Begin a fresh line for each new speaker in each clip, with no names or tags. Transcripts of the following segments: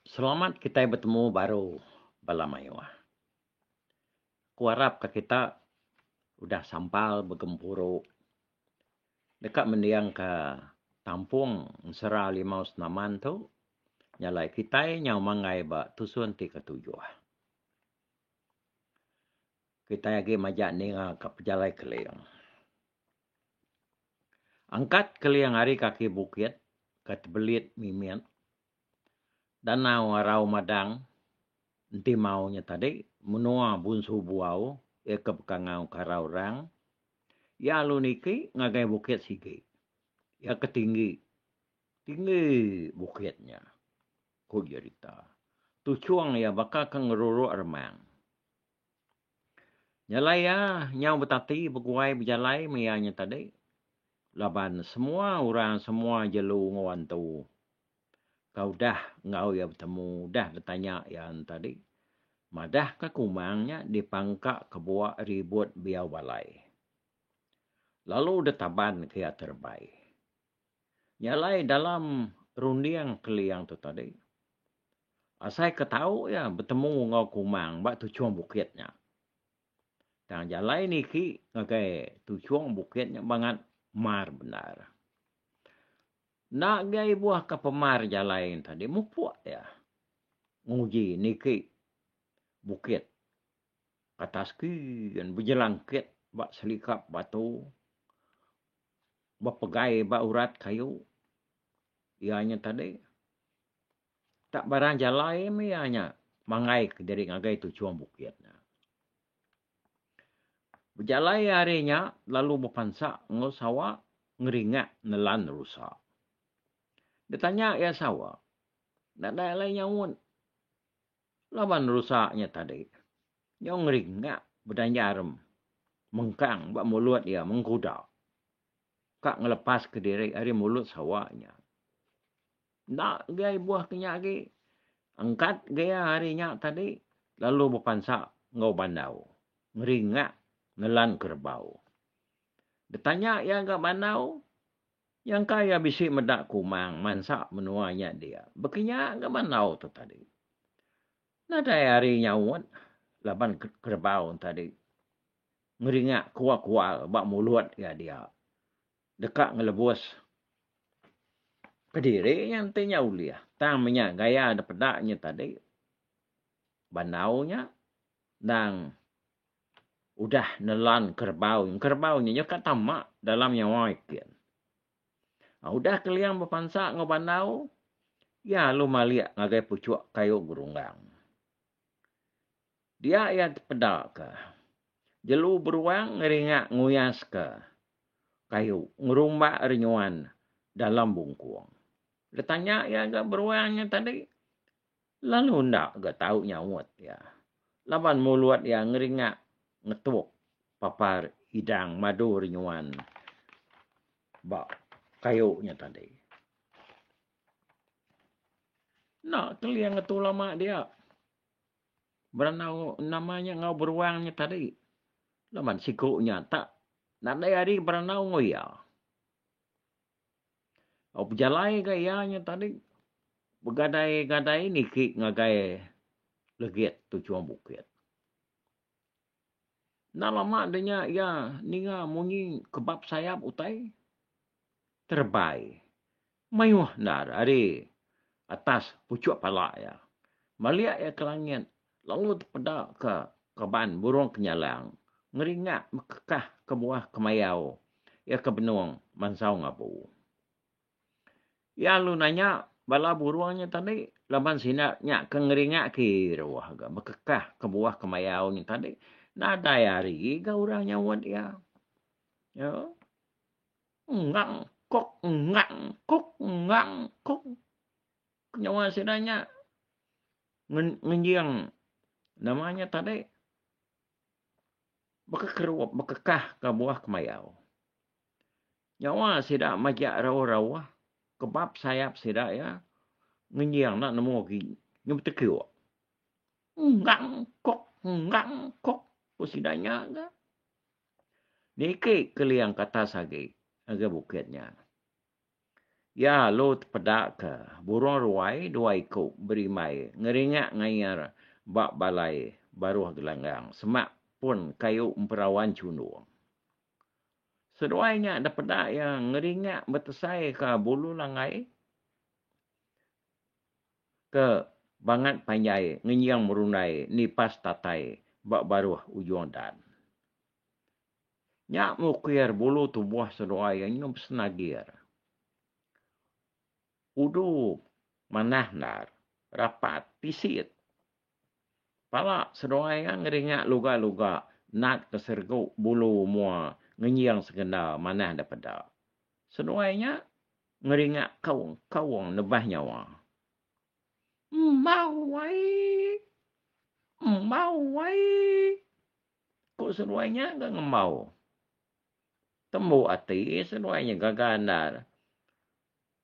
Selamat kitai betemu baru bala mayuh. Aku arap ka kita udah sampal begempuru deka mending ka tampung ensera limau senaman tu nyalai kitai nyau manggai ba tusun ti ketujuh. Kitai agi majak ninga ka pejalai keling. Angkat keling ari kaki bukit ke tebelit mimit danau arau madang enti mau nya tadi menua bunsu buau iya ke bekangau ke arau rang iya alu niki ngagai bukit sigi iya ke tinggi tinggi bukit nya ku jerita tuchung iya baka ke ngeruruk remang. Jalai iya nyau betati beguai bejalai meh iya nya tadi laban semua orang semua jelu enggau antu tau dah enggau iya betemu dah betanya iya nya tadi madah ka kumang nya dipangka kebuak ribut biyau balai lalu deh taban ke iya terebai. Jalai dalam runding keliang tu tadi. Asai ke tau iya betemu enggau Kumang ba tuchung bukit nya. Tang jalai niki ngagai tuchung bukit nya bangat mar bendar. Enda agi ibuh ka pemar jalai nya tadi mupuk iya nguji niki bukit kata skin bejelangkit ba selikap batu bepegai ba urat kayu iya nya tadi. Tak barang jalai meh iya nya manggai kediri ngagai tu chum bukit nya. Bejalai iya hari nya lalu bepansa enggau sawa ngeringak nelan rusa. Betanya iya sawa, enda dai alai nyaut laban rusa nya tadi nyau ngeringak bedanjar mengkang ba mulut iya mengkuda ka ngelepas kediri ari mulut sawa nya. Enda gai buah ke nya agi. Angkat gaya hari nya tadi lalu bepansa enggau bandau. Ngeringak nelan kerebau. Betanya iya ga bandau, nyangka iya bisi meda kumang mansa menua nya dia. Bekinya ga bandau tu tadi. Nadai ari nyaut laban kerebau tadi ngeringak kual-kual ba mulut iya dia. Deka ngelebus kediri nya enti nya ulih. Tang menya gaya da peda nya tadi bandau nya endang udah nelan kerbau. Kerbau nya nyau ka tama dalam nyawa itin. Udah Keliang bepansa enggau bandau iya lalu malik ngagai puchuk kayu gerunggang. Dia iya dipeda ke jelu beruang ngeringa nguyas ke kayu ngerumba renyuan dalam bungkung. Detanya iya ga beruang nya tadi lalu enda ga tau nyaut iya laban mulut iya ngeringa ngetuk papar idang madu renyuan ba kayu nya tadi. Enda keling ngetu lama dia. Berenang nama nya enggau beruang nya tadi. Laban siku nya tak nadai ari berenang enggau iya. Au bejalai ga iya nya tadi begadai-gadai niki ngagai legit tu Chong Bukit. Enda lama enda nya iya ninga munyi kebap sayap utai terebai mayuh endar ari atas puchuk pala iya. Malik iya ke langit lalu tepeda ke kaban burung kenyalang ngeringak mekekah kebuah kemayau iya ke benung mansau ngabu. Iya lalu nanya bala burung nya tadi laban sida nya ke ngeringa ke iruh ga bekekah kebuah kemayau nya tadi nadai ari ga orang nyauat iya. Iya. Engang kok engang kok engang kok. Penyawa sida nya ngenjing nama nya tadi bekekerup bekekah kebuah kemayau. Nyawa sida majak rauh-rauh kebab sayap sida iya ngenjing enda nemu agi nyau betekiuk. Enggang kok, enggang kok, ku sida nya ga. Niki keling ke atas agi ngagai bukit nya. Iya lalu tepeda ke burung ruai dua iku berimbai ngeringak ngayar ba balai baruh gelanggang semak pun kayu emperawan chundung. Seduai nya da peda iya ngeringak betesai ka bulu langgai ke bangat panjai ngenjing merundai nipas tatai ba baruh ujung dan. Nya mukir bulu tubuh seduai iya nyau besenagir. Udu manah endar rapat pisit. Pala seduai iya ngeringa luga-luga nat ke sergu bulu mua ngenjing sekenda manah da peda. Seduai nya ngeringa kaung-kaung nebah nyawa. Embau ai! Embau ai! Ku seduai nya ga ngembau. Tembu ati seduai nya gaga andal.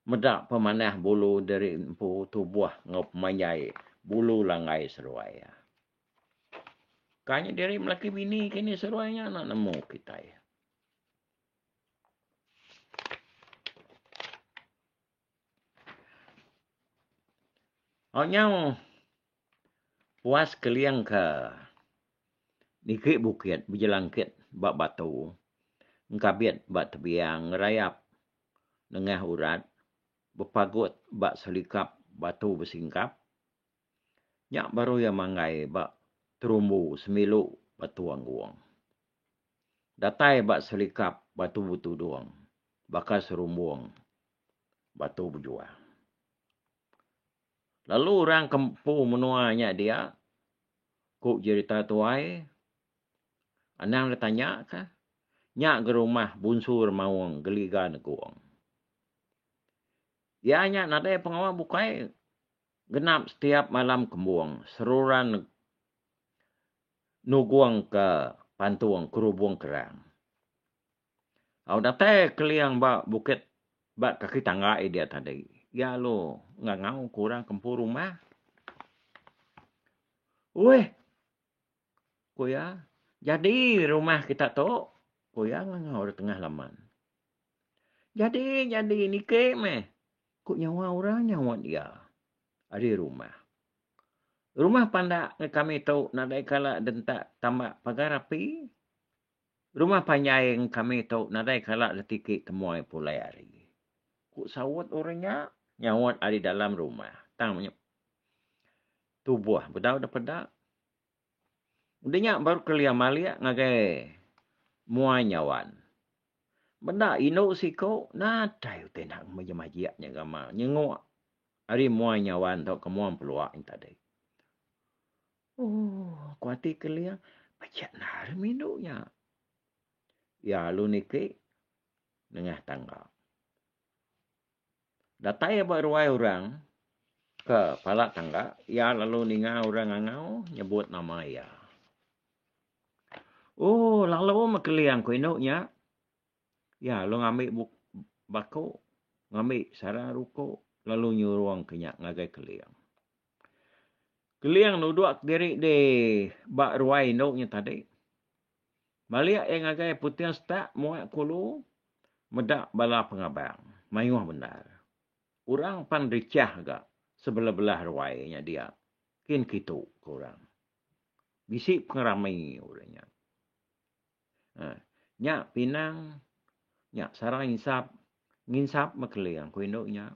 Meda pemanah bulu diri empu tubuh enggau pemanjai bulu langgai seruai. Ka nya diri melaki bini ke ni seruai nya enda nemu kitai. Au nyau puas keling ke niki bukit bejelangkit ba batu engkabit ba tebiang ngerayap nengah urat bepagut ba selikap batu besingkap. Nya baru iya manggai ba terumbu semilu batu anggong. Datai ba selikap batu betudung baka serumbung batu bejua. Lalu orang ke empu menua nya dia, ku jerita tuai, Anang betanya ka. Nya gerumah Bunsu Remaung Geliga Negong. Iya nya nadai pengawa bukai genap setiap malam kembung seruran nugung ke pantung kerubung kerang. Au datai Keling ba bukit ba kaki tangga iya diak tadi, iya lalu ngangau ke orang ke empu rumah. Uih! Ku iya, Jadi rumah kita tu? ku iya ngangau da tengah laman. Jadi, jadi niki meh, ku nyawa orang nyaup iya. Ari rumah. Rumah pandak ngagai kami tu nadai kala direntak tambak pagar api. Rumah panjai ngagai kami tu nadai kala ditiki temuai pulai ari. Ku saut orang nya nyaut ari dalam rumah tang tubuh bedau da peda. Udah nya baru kelia malik ngagai mua nyawan. Benda indu siku nadai utai enda majik-majik nya gamal nya nyenguk ari mua nyawan tu ke mua empelua nya tadi. Ooh ku ati kelia pejek enda arem indu nya. Iya lalu niki nengah tangga. Datai ba ruai orang ke pala tangga, iya lalu ninga orang ngangau nyebut nama iya. Ooh lalu meh keling ku indu nya. Iya lalu ngambi bup baku, ngambi sarang ruku lalu nyurung ke nya ngagai keling. Keling nuduk diri dih ba ruai indu nya tadi. Balik iya ngagai Puting Setak muak kulu meda bala pengabang. Mayuh bendar. Orang pan richah ga sebelah-belah ruai nya dia. Kin kitu ke orang. Bisi pengerami orang nya. Haa. Nya pinang nya sarang insap nginsap mekeling ku indu nya.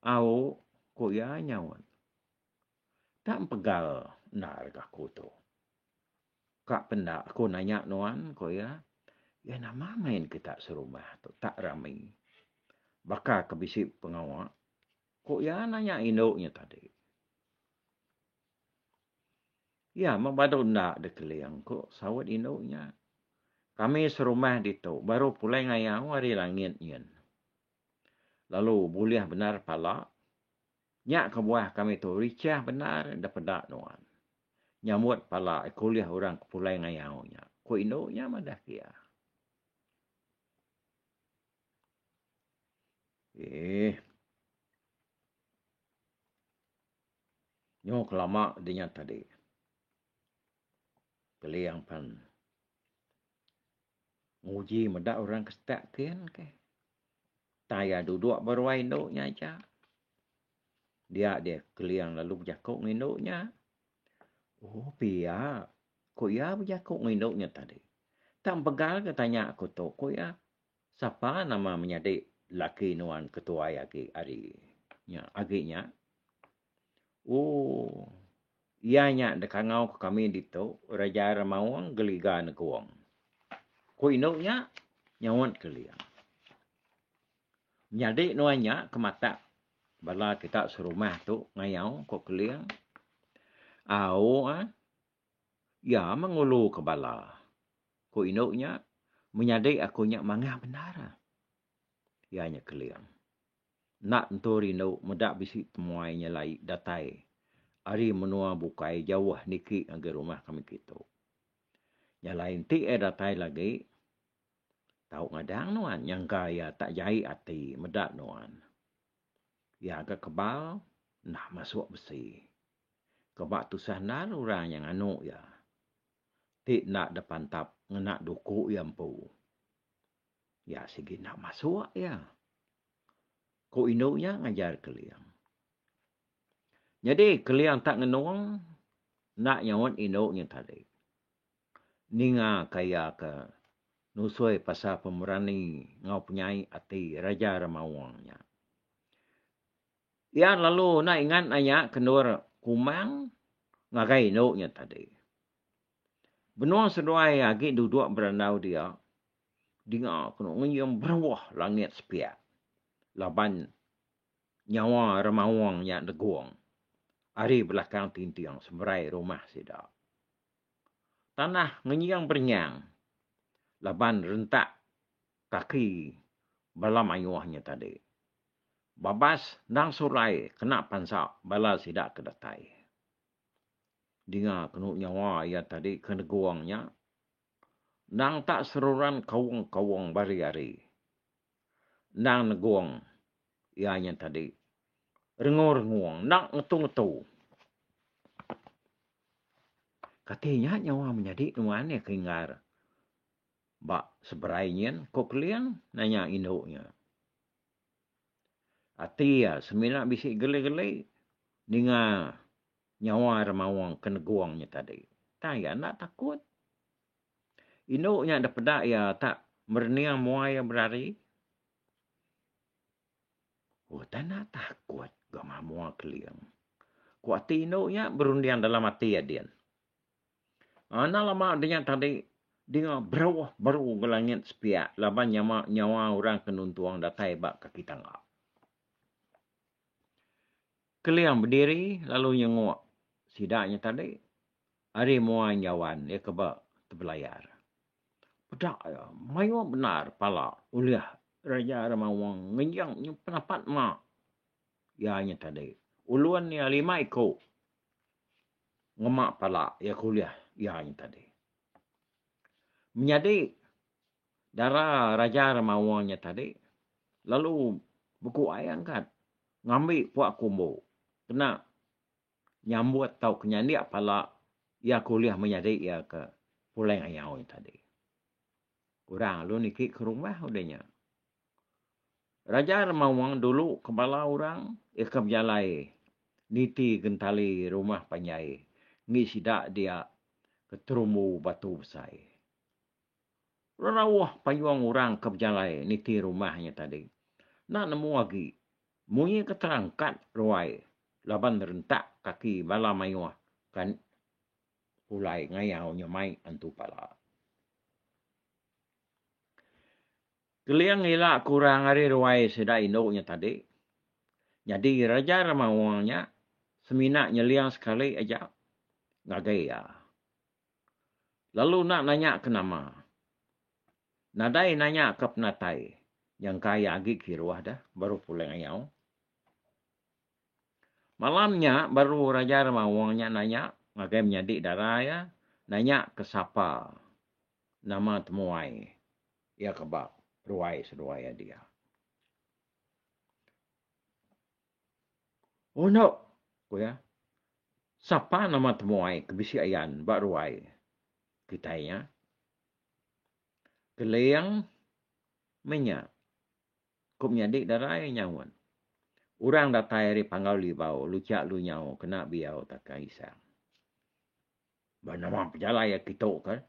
Au ku iya nyaut. Tak empegal endar aku tu. Ka penda aku nanya nuan, ku iya. Iya nama main kita serumah tu tak rami. Baka ke bisi pengawa? ku iya nanya indu nya tadi. Iya meh badu enda dekeling, ku saut indu nya. Kami serumah ditu baru pulai ngayau ari langit nyin. Lalu bulih bendar pala Nya kebuah kami tu richah bendar enda peda nuan. Nyambut pala iku ulih orang ke pulai ngayau nya, ku indu nya madah ke iya. Eeh. Nyu kelama dinya tadi. Keling pan. Nguji meda orang ke setak kin ke. Tai iya duduk ba ruai indu nya aja. Dia deh keling lalu bejaku ngan indu nya. Oh pia. Ku iya bejaku ngan indu nya tadi. Tak mpegal ke tanya aku tu. Ku iya. Sapa nama menyadi laki nuan ketuai agi ari nya agi nya. Ooh. Iya nya dekangau ke kami ditu, Raja Remaung geliga negong. Ku indu nya, nyaut Keling. Nyadi nuan nya ke matak bala kita serumah tu ngayau, ku Keling. Au ah. Iya meh nguluka bala, ku indu nya. Menyadi aku nya mangah bendar. Iya nya Keling. Enda tentu rindu meda bisi temuai nyelai datai ari menua bukai jauh niki ngagai rumah kami kitu. Nyelai enti iya datai lagi tau ngadang nuan nyangka iya tak jai ati meda nuan. Iya ga kebal enda masuk besi. Keba tusah endar orang nya nganu iya ti enda depantap ngena duku iya empu. Iya sigi enda masuk iya, ku indu nya ngajar Keling. Nyadi Keling tak ngenung enda nyaut indu nya tadi. Ninga ka iya ke nusoi pasal pemerani enggau penyai ati Raja Remaung nya. Iya lalu enda ingat nanya ke endur Kumang ngagai indu nya tadi. Benung seduai agi duduk berandau dia, dinga ku no ngium beruh langit sepiak laban nyawa Remaung nya negung ari belakang tinting semerai rumah sida. Tanah ngenying berenyang laban rentak kaki bala mayuh nya tadi. Babas endang sulai kena pansa bala sida ke datai. Dinga ku no nyawa iya tadi ke negung nya Endang tak seruran kaung-kaung bari-ari. Endang negung iya nya tadi. Rengung-rengung, enda ngetu-ngetu. Kati nya nyawa menyadi nuan iya ke inggar ba seberai nyin, ku Keling nanya indu nya. Ati iya semina bisi geli-geli ninga. Nyawa ira maung ke negung nya tadi. Tang iya enda takut. Indu nya enda peda iya tak merening muai iya berari. Utai enda takut ga mamua keling. Ku ati indu nya berunding dalam ati iya din. Enda lama udah nya tadi dinga beruh beru ga langit sepiak laban nyama nyawa orang ke nuntung datai ba kaki tangga. Keling bediri lalu nyenguk sida nya tadi ari mua enjauan iya ke ba tebelayar. Peda iya mayuh bendar pala ulih Raja Remaung ngejing nyimpan apat ema iya nya tadi. Ulun iya lima iku ngema pala iya ke ulih iya nya tadi. Menyadi dara Raja Remaung nya tadi lalu beku ai angkat Ngambi puak kumbu kena nyambut tauka nyandik pala iya ke ulih menyadi iya ke pulai ngayau nya tadi. Orang lalu niki ke rumah udah nya. Raja Remaung dulu ke bala orang iya ke bejalai niti gentali rumah panjai enggi sida dia ke terumbu batu besai. Rerauh payung orang ke bejalai niti rumah nya tadi enda nemu agi munyi ke terangkat ruai laban rentak kaki bala mayuh ke pulai ngayau nya mai antu pala. Keling ila ke orang ari ruai sida indu nya tadi nyadi Raja Remaung nya semina nyeling sekali aja ngagai iya. Lalu enda nanya ke nama. Nadai nanya ke penatai. Nyangka iya agi kiruh dah baru pulang ayau. Malam nya baru Raja Remaung nya nanya ngagai menyadi dara iya nanya ke sapa nama temuai iya ke ba ruai seduai iya diau. Eno, ku iya, sapa nama temuai ke bisi ayan ba ruai kitai nya? Keling meh nya, ku menyadi darai nyaut. Orang datai ari Panggau Libau, Luchak Lunyau kena biau takah isang. Ba nama pejalai iya kitu ke,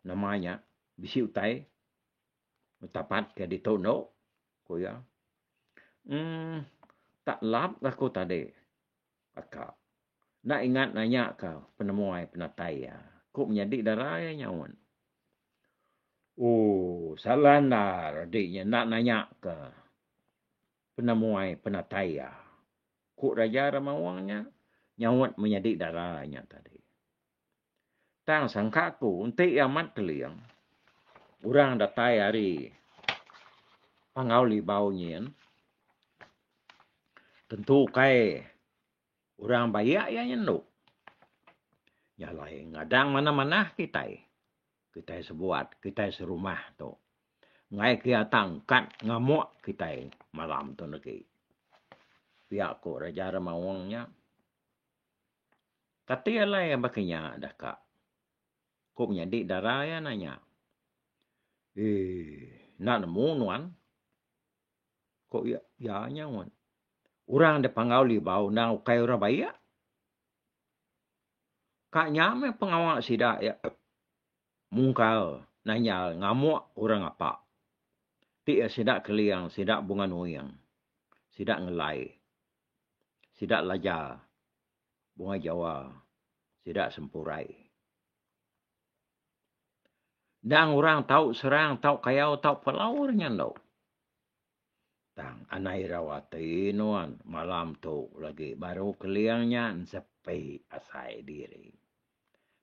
nama nya bisi utai Betapat ke ditu endo, ku iya. Emm tak lap ga aku tadi ba ka. Enda ingat nanya ka penemu ai penatai iya. Ku menyadi dara iya nyaut. Ooh salah endar adi nya enda nanya ka penemu ai penatai iya. Ku Raja Ramawong nya nyaut menyadi dara iya tadi. Tang sangka aku enti iya amat keling, orang datai ari Panggau Libau nyin tentu ukai orang bayak iya nyendu. Nya alai ngadang manah-manah kitai, kitai sebuat, kitai serumah tu. Enggai kiya tang kad ngamuk kitai malam tu negi. Pia ku Raja Remaung nya. Kati alai iya baka nya daka? Ku menyadi dara iya nanya. Eeii enda nemu nuan, ku iya nyaut. Orang da panggau libau enda ukai orang bayak. Ka nya meh pengawa sida iya mungkal nanyal ngamuk orang apak ti iya sida keling, sida bunga nuing, sida ngelai. sida laja bunga jawa sida sempurai. Endang orang tau serang tau kayau tau pelau orang nya endo. Tang anai irau ati nuan malam tu lagi baru keling nya ensepi asai diri.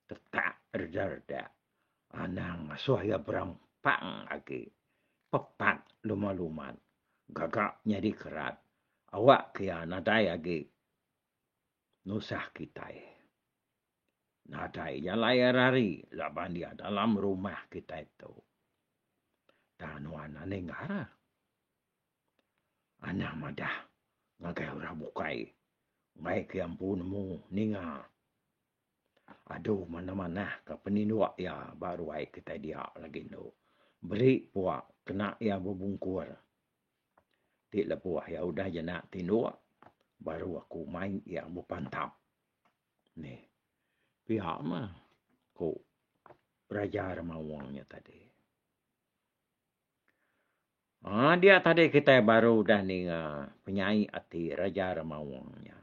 Tetak reda-reda anang ngasuh iya berampang agi. Pepat luman-luman gaga nyadi kerat awak ke iya nadai agi nusah kitai. Nadai jalai iya rari laban iya dalam rumah kitai tu. Tang nuan aning ngaran. Anang madah ngagai orang bukai mai ke empu nemu ninga adu manah-manah ke peninduk iya ba ruai kitai dia lagi endo beri pua kena iya bebungkur ti lebuh iya udah jena tinduk baru aku mai iya bepantap meh pia mah ku Raja Remaung nya tadi. Aaa diak tadi kitai baru udah ninga penyai ati Raja Remaung nya.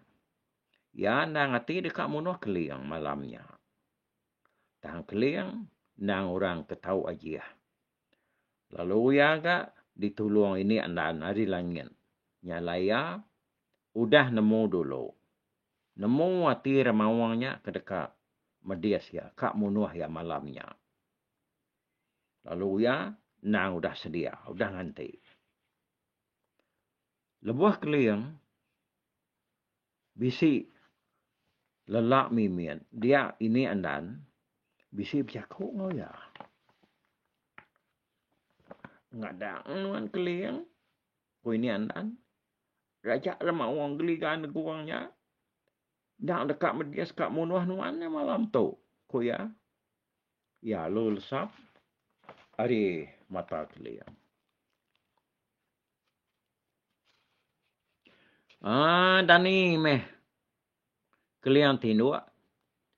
Iya endang ati deka munuh Keling malam nya. Tang Keling endang orang ke tau ajih. Lalu iya ga ditulung ini endar ari langit nya alai iya udah nemu dulu. Nemu ati Remaung nya ke deka medis iya ka munuh iya malam nya. Lalu uya endang udah sedia, udah nganti. Lebuh keling, bisi lelak mimit dia ini andan bisi bejaku enggau iya. Ngadang nuan keling, ku ini andan, raja da maong geliga negung nya. Endang deka medis ka munuh nuan nya malam tu, ku iya. Iya alu lesap ari mata teling. Ah Dani meh keling tinduk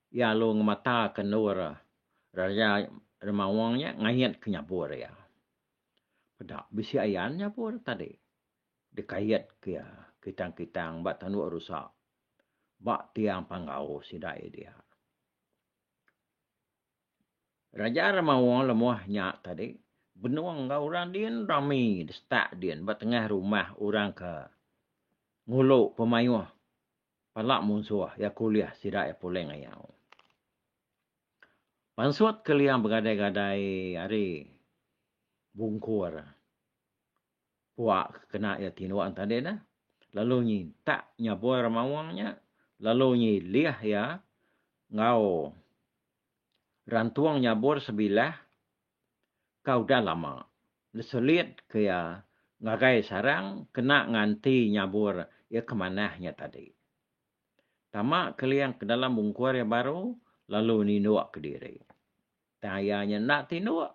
iya alu ngemataka endur raja Remawang nya ngait ke nyabur iya. Peda bisi ayan nyabur tadi dikait ke iya kitang-kitang ba tanduk rusa ba tiang panggau sida iya diak. Raja Ramawa lemoh nya tadi benung enggau orang din rami disetak din ba tengah rumah orang ke ngulu pemaioh pala munsoh iya ke ulih sida iya puleng ayau. Pansut ke liang begadai-gadai ari bungkur. puak ke kena iya ti nuan tadi dah lalu nyintak nyaboi remawang nya lalu nyilih iya enggau rantung nyabur sebilah ka udah lama diselit ke iya ngagai sarang kena nganti nyabur iya ke manah nya tadi. Tama keling ke dalam ungkur iya baru lalu ninuk kediri. Tang iya nya enda tinduk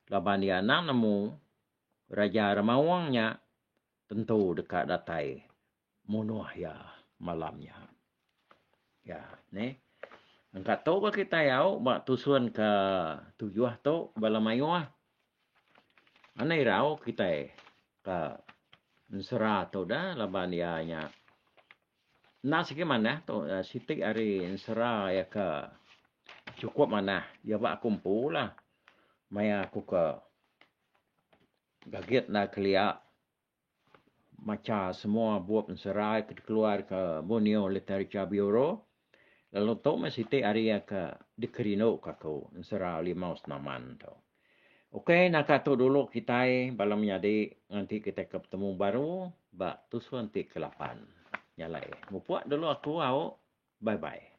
laban iya anang nemu Raja Remaung nya tentu deka datai munuh iya malam nya. Ya, neh. Engka tu bah kitai au ba tusun ke tujuh tu bala mayuh. Mana irau kitai ka ensera tu dah laban iya nya Enda sigi manah tu siti ari ensera iya ke chukup manah iya ba aku empu lah maya aku ke gagit enda kelia macha semua bup ensera iya ke dikeluarka Borneo Literature Bureau lalu tu mah siti ari iya ke dikerinduka aku ensera Limau Senaman tu. Ukai naka tu dulu kitai bala menyadi nganti kitai ke betemu baru ba tusun ti ke lapan. Nya alai. Mupuk dulu aku au. Bye bye.